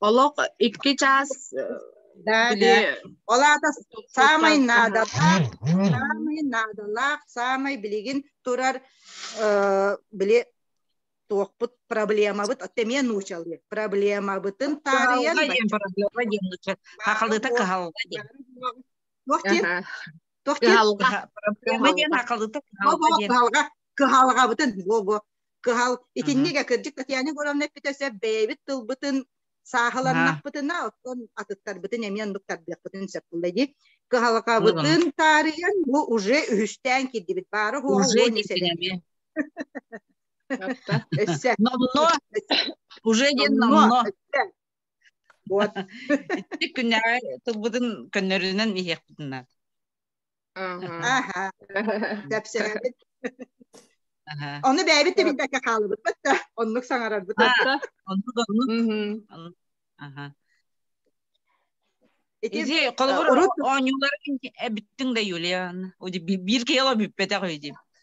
Олох икки час да, били... да. Ол аата саамай наадалаах, саамай наадалаах, саамай билигин турар э, били туохпут проблемабыт эмиэ нуучалыы проблемабытын таарыйан проблема диэн хахалыта кыһалла диэн туох диэн туох диэн проблема диэн хахалыта кыһалга кыһалгабытын бого кыһал итинник э кырдьык Татьяна Егоровна эппитэ бэйэбит тылбытын сааһыланнахпытына оттон атыттарбытын эмиэн быктардыахпытын сөп кылла дии кыһалҕабытын таарыйан бу уже үһүстээн кирдибит баары номно уже диэн номно вот итти күннэҕэ тылбытын көннөрүнэн иһиэхпитин наада Аха. Кэпсээбит. Ону бэйэбит да билбэккэ хаалыбыппыт да, оннук саҥарарбыт. Оннук оннук. Аха. Изи, холобур, оонньууларын эбиттиң да Юлия, биир киһи ала бүппэтэх үди.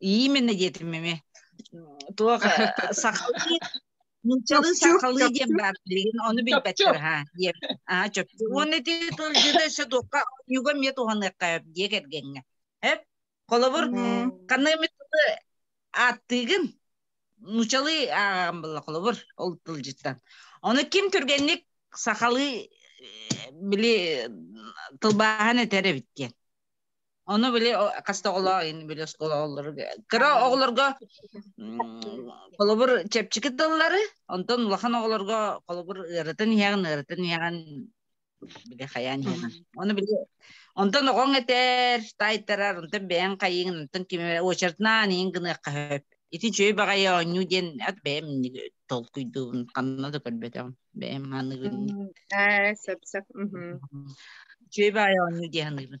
именно диэтим эми туох сахалыы нууччалыы сахалыы диэн баар билигин ону билбэттэр ха диэн аа чопчу уонна ити тылдьыта өссө туохха ньуга эмиэ туһаныахха сөп диэ кэргэҥҥэ эп холобур ханна эмит тылы ааттыыгын нууччалыы аан булла холобур ол тылдьыттан ону ким түргэнник сахалыы били тылбааһан этэр эбит диэн Ону били хаста оҕолоор били оскололору кыра оҕолорго холобур чэпчики тыллары, онтон улахан оҕолорго холобур ыарытын иһэҕин, ыарытын иһэҕин били хайаан иһэҕин. Ону били онтон оҕоҥ этэр, тайтарар, онтон бэйэҥ хайыгын, онтон ким очертнаан иһин гыныахха хөп. Ити чөй баҕайы оонньуу диэн ат бэйэм толкуйдуубун, ханна да көрбөтөм. Бэйэм ханыгын. Ээ, сап-сап. Чөй баайы оонньуу диэн ханыгын.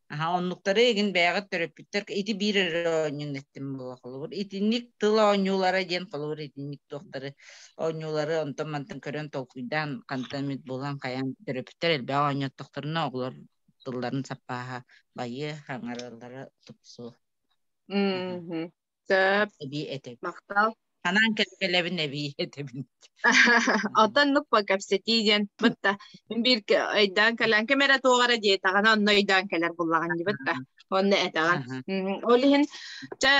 Аха, оннуктары эгин бэйэҕит төрөппүттэр ити биир эрэ оонньуун эттим була холобур. Итинник тыл оонньуулара диэн холобур итинник туохтары оонньуулары онтон мантан көрөн толкуйдаан хантан эмит булан хайаан төрөппүттэр элбэх оонньоттохторуна оҕолор тылларын саппааһа байыы хаҥарыылара тупсу. Сөп. Эбии этэбин. Махтал. Ханаан кэлбэлэбин эбии этэбин. Оттоннук по кэпсэтии диэн бытта мин биир өйдөөн кэлэн ким эрэ туоҕара диэтэҕинэ онно өйдөөн кэлэр буллаҕын дии бытта онно этэҕин ол иһин чэ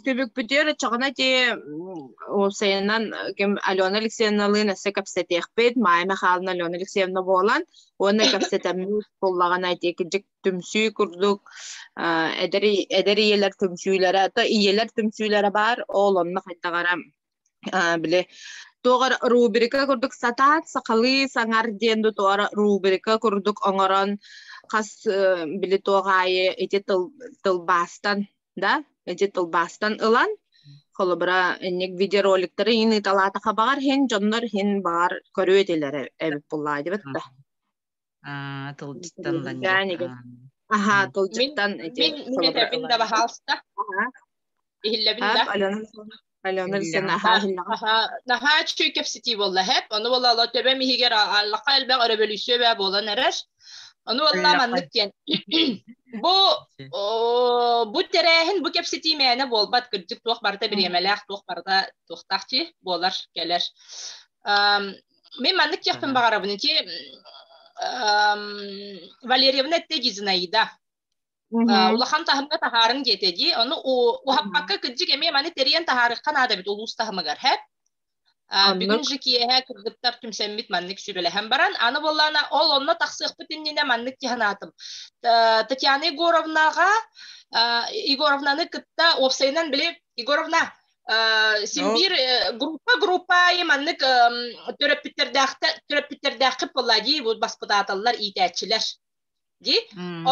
түбүкпүтүөр оччоҕуна ти уопсайынан ким Алена Алексеевналыын өссө кэпсэтиэхпит Майя Михайловна Алена Алексеевна буолан уонна кэпсэтэммит буллаҕына тиэкидьик түмсүү курдук эдэр эдэр ийэлэр түмсүүлэрэ то ийэлэр түмсүүлэрэ баар ол онно хайдаҕара били туоҕар рубрика курдук сатаат сахалыы саҥар диэн да туора рубрика курдук оҥорон хас били туоҕаайы ити тыл тылбаастан да ити тылбаастан ылан холобура инник видеороликтары иин ыыталаата хабаҕар һин дьоннор һин баҕар көрүө этилэрэ эбит буллаа дибит да А, тылдьыттан ланньа. Аха, тылдьыттан эти Мин этэбин да баһаалста. Иһиллэбин да. Алена Алена Аха, наһаа үчүгэй кэпсэтии буолла хэп. Ону буола ала төбөм иһигэр аллаха элбэх өрөбөлүйсүө бэ буолан эрэр. Ону буола маннык диэн. Бу бу тэрээһин бу кэпсэтии мээнэ буолбат кырдьык туох барыта бириэмэлээх туох барыта туохтаах чи буолар кэлэр. мен маннык диэхпин баҕарабын ити валерьевна этте дизнаида улахан таһымга таһаарын диэтэ дии ону уһаппакка кырдьык эмиэ маны тэрийэн таһаарыхха наада эбит улуус таһымыгар һэп бүгүн же киэһэ кыргыттар түмсэммит маннык сүрэлэһэн баран аны буоллаана ол онно тахсыахпыт иннинэ маннык дьаһанаатым татьяна егоровнаҕа егоровнаны кытта уопсайынан били егоровна Симбир группа-группа маннык төрөппүттэрдээххэ палладий баспытааталлар иитээччилэр. Ди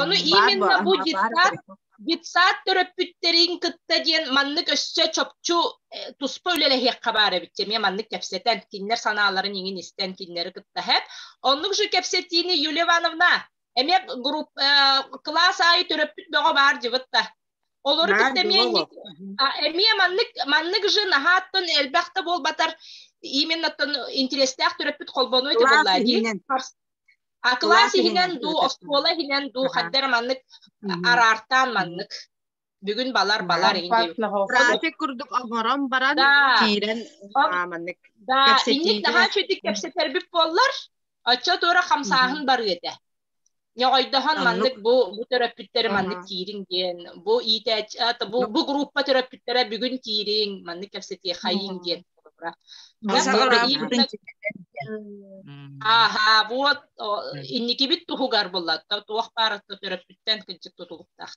ону именно бу детсад детсад төрөппүттэрин кытта диэн маннык өссө чопчу туспа үлэлэһиэххэ баар эбит эмиэ маннык кэпсэтэн кинилэр санааларын иҥин истэн кинилэри кытта хэп оннук же кэпсэтиини Юлия Ивановна эмиэ групп кылаас аайы төрөппүт бөҕө баар дьыбытта Олору кытта эмиэ эмиэ маннык маннык же наһааттан элбэхтэ буолбатар именно интерестээх төрөппүт холбонуй тыбылла дии а класс иһинэн дуу оскуола иһинэн дуу хаддара маннык араартаан маннык бүгүн балар балар трафик курдук оҥорон баран киирэн маннык да инник наһаа чөтүк кэпсэтэрбит буоллар оччо туора хамсааһын барыа этэ Ньоҕойдоһон маннык бу, бу төрөппүттэри маннык киириҥ диэн, бу иитээччи, бу, бу группа төрөппүттэрэ бүгүн киириҥ, маннык кэпсэтиэххэйиҥ диэн. Ааһаа, вот инникибит туһугар буллатта, туох баарытта төрөппүттэн кыддьык тутулуктаах.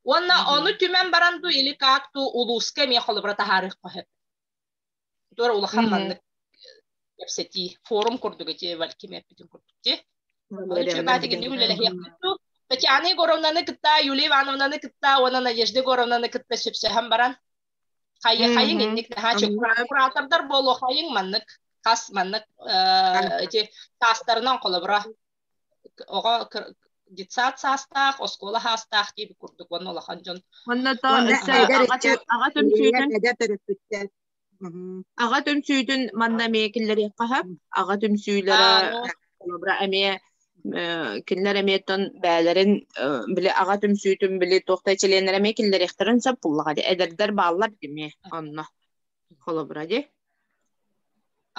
Уонна ону түмэн баран ду или как ту улууска эмиэ холобура таһаарыах қоһеп. туора улахан маннык кэпсэтии форум курдук эти кимеппитин курдук ти Чебатигин үлэлэһиэхпиту Татьяна Егоровнаны кытта Юлия Ивановнаны кытта уонна Надежда Егоровнаны кытта сөпсөһөн баран хайы хайың инник наһаа чөк куратордар буолуо хайың маннык хас маннык эти таастарынан холобура оҕо детсад саастаах, оскуола саастаах диэбит курдук уонна улахан дьон. Манна то аҕа түмсүүтүн аҕа түмсүүтүн манна эмиэ киллэриэххэ аҕа түмсүүлэрэ холобура эмиэ кинилэр эмиэтин бээлэрин били аҕа түмсүүтүн били туохтай чилиэннэр эмиэ киллэриэхтэрин сөп буллаҕа эдэрдэр бааллар димэ онно холобура ди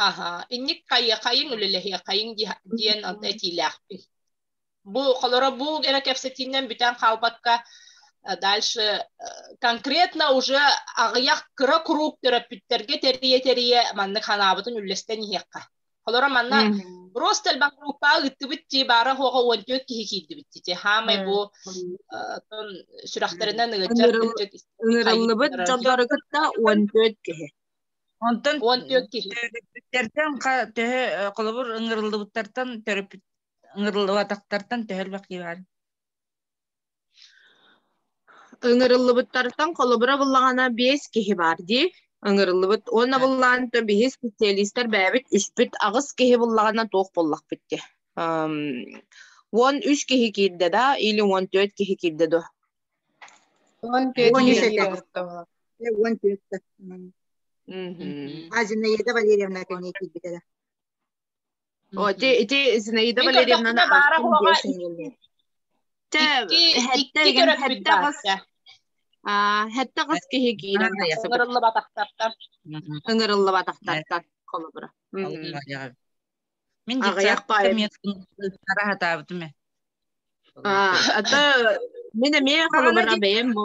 аха инник хайы хайыҥ үлэлэһиэ хайыҥ диэн онто этиилээхпин бу холоро бу эрэ кэпсэтииннэн бүтэн хаалбакка дальше конкретно уже аҕыйах кыра куруук төрөппүттэргэ тэрийэ тэрийэ маннык санаабытын үллэстэн иһиэххэ Холоро манна просто элбан группа ыттыбыт ти баара хоҕа уон түөт киһи киирдибит ти хамай бу тон сүрэхтэринэн ыгыччар Ынырыллыбыт дьоннору кытта уон түөт киһи. Онтон уон түөт киһи. Төрүппүттэртэн төһө холобур ыңырыллыбыттартан төрүппүт ыңырыллыбатахтартан төһө бақи бар Ыҥырыллыбыттартан холобура буллаҕына биэс киһи баар дии ыҥырыллыбыт уонна буллаҕына то биһи специалистар бэйэбит үспүт аҕыс киһи буллаҕына туох буллахпыт дии эм, уон үс киһи киирдэ да или уон түөрт киһи киирдэ дуо Он төрт Он киһи жетэ. киирбэттэ Уон түөрт. Мгм. Азиная да Валерьевна кэннии киирбитэ да. Ити ити Зинаида Валерьевнаны баара Тэ икки төрөппүттэ бас аа хэтте кыс киһи киирэн ыҥырыллыбатахтартан ыҥырыллыбатахтартан холобура Мен аҕыйах паайым а ата мен эмиэ холобура бэйэм бу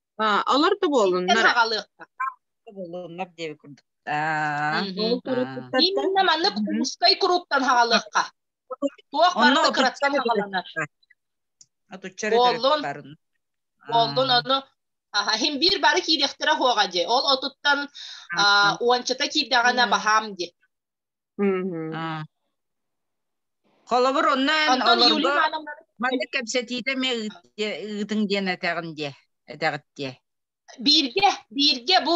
Алар да буолуннар. Буолуннар диэби курдук. Именно маннык Кумускай куруктан хагалыхха. Туох барыта кыраттан хагаланар. Атуччары төрөп барын. Болдун ону Хим биир бары киириэхтэрэ хоҕа дьи. Ол отуттан уончата киирдэҕинэ баһаам ди. Холобур, оннон олорго маннык кэпсэтиитэ эмиэ ыытыҥ диэн этэҕин диэ, этэҕит диэ. Бииргэ, бииргэ бу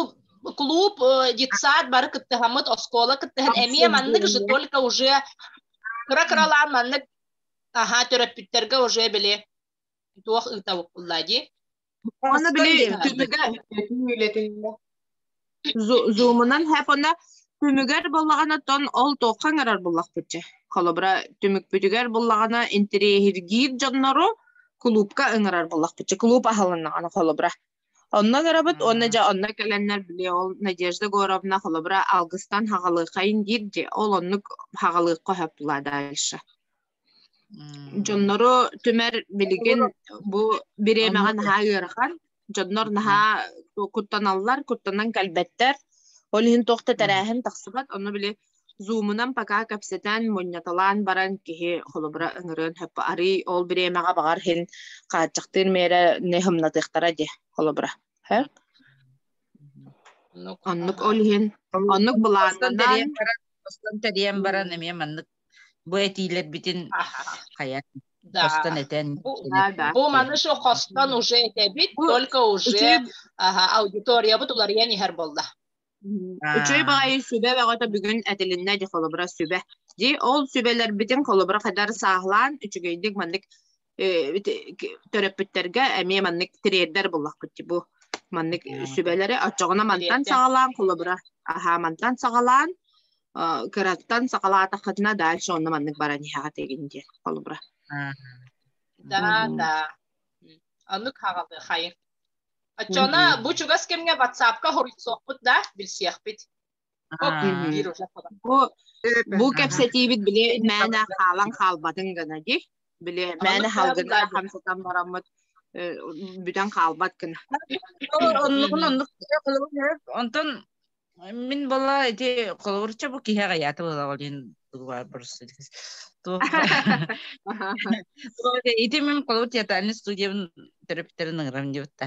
клуб, детсад бары кыттыһаммыт, оскуола кыттыһан эмиэ маннык же только уже кыра-кыралаан маннык аха төрөппүттэргэ уже били туох ыытабыт булла дии. Хос били түмүгэ үлэтиннэ. Зумунан хэпона түмүгэр буллаҕына тон ол тоққан арар буллахпытчы. Холобра түмүкпүтүгэр буллаҕына интириэһиргиир дьоннору клубка ыҥырар буллахпытчы. Клуб аһылыннаҕына холобра. Онно көрөбүт, онно дьэ онно кэлэннэр били ол Надежда Горовна холобра алгыстан хагалыахайын диир де ол оннук хагалыахха хөп тула дальше. Дьоннору түмэр билигин бу бириэмэҕэ наһаа ыарахан. Дьоннор наһаа куттаналлар, куттанан кэлбэттэр. Ол иһин туох да тэрээһин тахсыбат. Ону били Zoom-унан пока кэпсэтэн, мунньаталаан баран киһи холобура ыҥырыан сөп. Арый ол бириэмэҕэ баҕар иһин хааччахтыыр миэрэ не humнатыахтара дии холобура. Оннук ол иһин оннук былаанынан баран тэрийэн баран эмиэ маннык Бу этиилэрбитин хайан хостон этэн бу маны şu хостон уже этэбит только уже аудиториябыт уларыйан иһэр болла Үчүгэй баҕайы сүбэ бөҕөтө бүгүн этилиннэ дии холобура сүбэ. Дии ол сүбэлэрбитин холобура хайдар сааһылаан үчүгэйдик маннык төрөппүттэргэ эмиэ маннык тириэрдэр буллахпыт бу маннык сүбэлэри оччоҕуна мантан саҕалаан холобура аһаа мантан саҕалаан кыраттан саҕалаатаххытына дальше онно маннык баран иһэҕит игин диэн холобура да да оннук хаҕалы хайы оччоҕуна бу чугас кэмҥэ ватсапка хоруйсуохпут да билсиэхпит Бу кэпсэтиибит били мээнэ хаалан хаалбатын гына ди. Били мээнэ салгыда хамсатан бараммыт бүтэн хаалбат гына. Оннук онтон мин бала эти холобурча бу киһи аҕыйаата болаҕалин дугуар бурсу Ити мен колор театральный студиябын төрөптерин ыңырам диотта.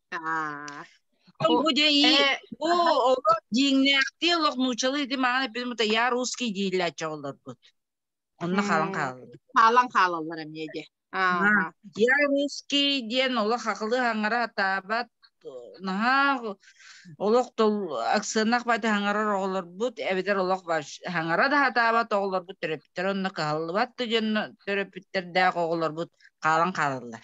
Бу дьэ ии бу олох дьиҥнээхтии олох нууччалыы ити маҕан эппит мута я русский дииллээччи олорбут. Онно хаалан хаалаллар. Хаалан хаалаллар эмиэ дьэ. Я русский диэн олох ақылы хаңара атаабат наһаа олох тол аксынах бати хаңарар оҕолорбут эбэтэр олох хаңара да атаабат оҕолорбут төрөпүттэр онно кыһаллыбат да дьон төрөпүттэрдээх оҕолорбут хаалан хаалаллар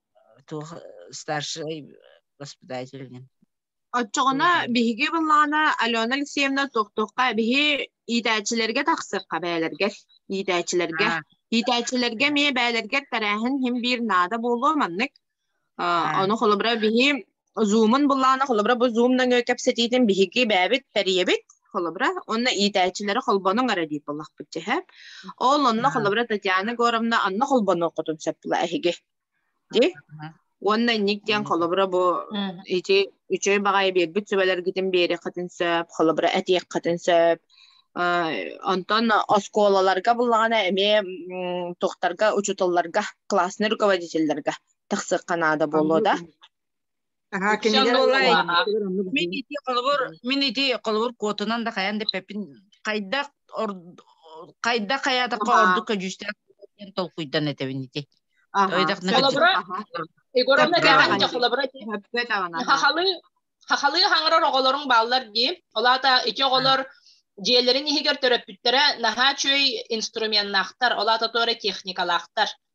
туох старший воспитатель Оччоҕуна биһиги былаана Алена Алексеевна тохтохха биһи иитээччилэргэ тахсырха бээлэргэр иитээччилэргэ иитээччилэргэ эмиэ бээлэргэр тэрээһин хим биир наада буолуо маннык ону холобура биһи Зумун буллаана холобура бу Zoom нөҥүө кэпсэтиитин биһиги бэйэбит тэрийэбит холобура уонна иитээччилэри холбонуҥ эрэ диир буоллахпыт дьэһэ. Ол онно холобура Татьяна Егоровна анна холбонуоххутун сөп була эһиги. Ди? Уонна инник диэн холобура бу ити үчүгэй баҕайы биэрбит сүбэлэргитин биэриэххитин сөп, холобура этиэххитин сөп. Онтон оскуолаларга буллаҕына эмиэ тухтарга, учуталларга, классный руководительларга тахсыахха наада буолуо да мин ити холобур мин ити холобур куотунан да хайан да пепин хайдах хайдах хаятакка ордук көдьүүстээх толкуйдан этэбин ити Егоровна дээхэнчэ холобура хахалы хахалы хаңырар оҕолорун бааллар дии олаата ити оҕолор дьиэлэрин иһигэр төрөппүттэрэ наһаа үчүгэй инструменнаахтар олаата туора техникалаахтар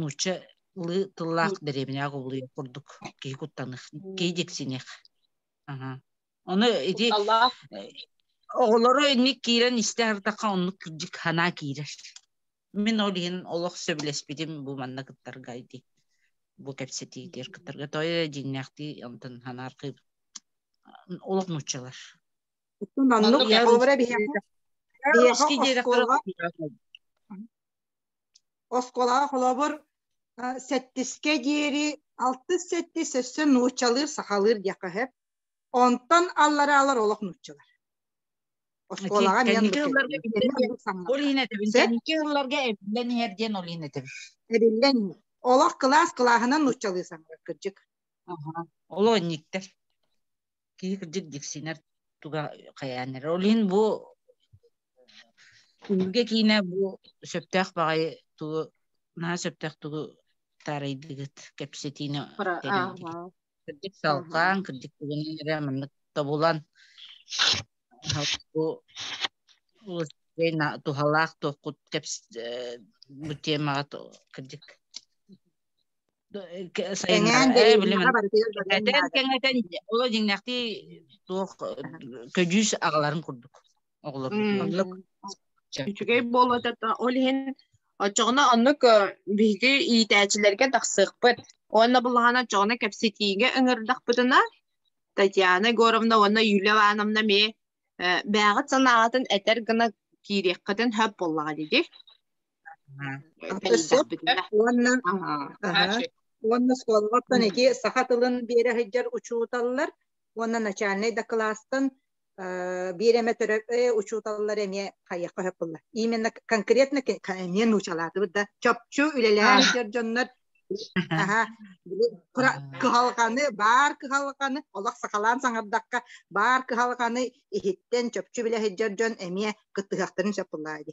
нуучча ылы тыллаах дэриэбинэҕэ кубулуйар курдук киһи куттаных киһи диксиних ону ити оҕолору инник киирэн истэ ардахха оннук кырдьык ханаа киирэр мин ол иһин олох сөбүлэспитим бу манна кыттарга ити бу кэпсэтиитигэр кыттарга тойо дьиҥнээхтии онтон ханааркы олох нууччалар оннук биһиэшки диэтэхтэрэ оскуолаҕа холобур сэттискэ диэри алтыс сэттис өссө нууччалыыр сахалыыр диэххэ сөп онтон аллараалар олох нууччалар оскуолаҕа ол иһин этэбин кэнники ылларга эбиллэн иһэр диэн ол иһин этэбин эбиллэн иһэр олох кылаас кылааһынан нууччалыы саҥарар кырдьык олоонньуктар киһи кырдьык диксинэр туга хайааннар ол иһин бу күнүгэ киинэ бу сөптөөх баҕайы тугу наһаа сөптөөх тугу таарайдыгыт кэпсэтиини кырдьык салҕаан кырдьык тугунан эрэ маннык тобулан бу туһалаах туохкут бу темаҕа кырдьык Эҥээн кэҥэтэн кэҥэтэн оло дьиҥнээхтии туох көдьүүс аҕаларын курдук оҕолорбут үчүгэй буолуо ол иһин оччоҕуна оннук биһиги иитээччилэргэ тахсыахпыт уонна булаһана оччоҕуна кэпсэтиигэ ыҥырдахпытына Татьяна Егоровна уонна Юлия Ивановна эмиэ бээҕит санааҕытын этэр гына киириэххитин сөп буоллаҕа дии уонна уонна суолгаттан ити саха тылын биэрэ сылдьар учууталлар уонна начальнай дакылаастан биир эмэ төрөппө учууталлар эмиэ хайыахха хөппүллэр именно конкретно эмиэ нуучалаатыбыт да чопчу үлэлэһэн сылдьар дьоннор кыһалҕаны баар кыһалҕаны олох сахалаан саҥардахха баар кыһалҕаны иһиттэн чопчу билэ сылдьар дьон эмиэ кыттыһахтарын сөп буллаа ди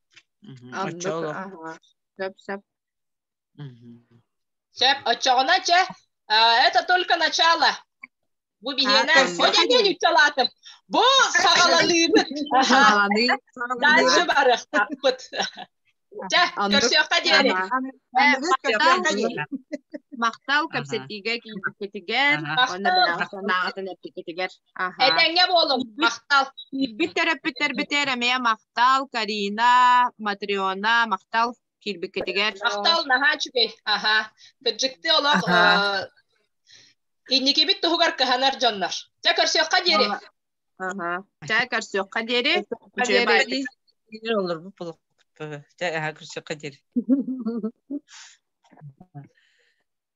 Оччоҕо. Сөп-сөп. Чеп, оччоҕуна, че, это только начало. Бу биһиэнэ. Бодядень учалаатым. Бу саҕалалыыбыт. Дальше барыахпыт. Чэ, көрсүөххэ диэри. Махтал кэпсэтиигэ киирбиккитигэр, уонна бэлэхтэнээҕитин эппиккитигэр. Этэҥҥэ буолуҥ, махтал. Биирбит төрөппүттэрбитигэр эмиэ махтал, Карина, Матриона, махтал киирбиккитигэр. Махтал, наһаа үчүгэй. Аха. Кырдьыкты олох инникибит туһугар кыһанар дьоннор. Дьэ көрсүөххэ диэри. Аха. Дьэ көрсүөххэ диэри. Олор бу булукпу. Дьэ аха көрсүөххэ диэри.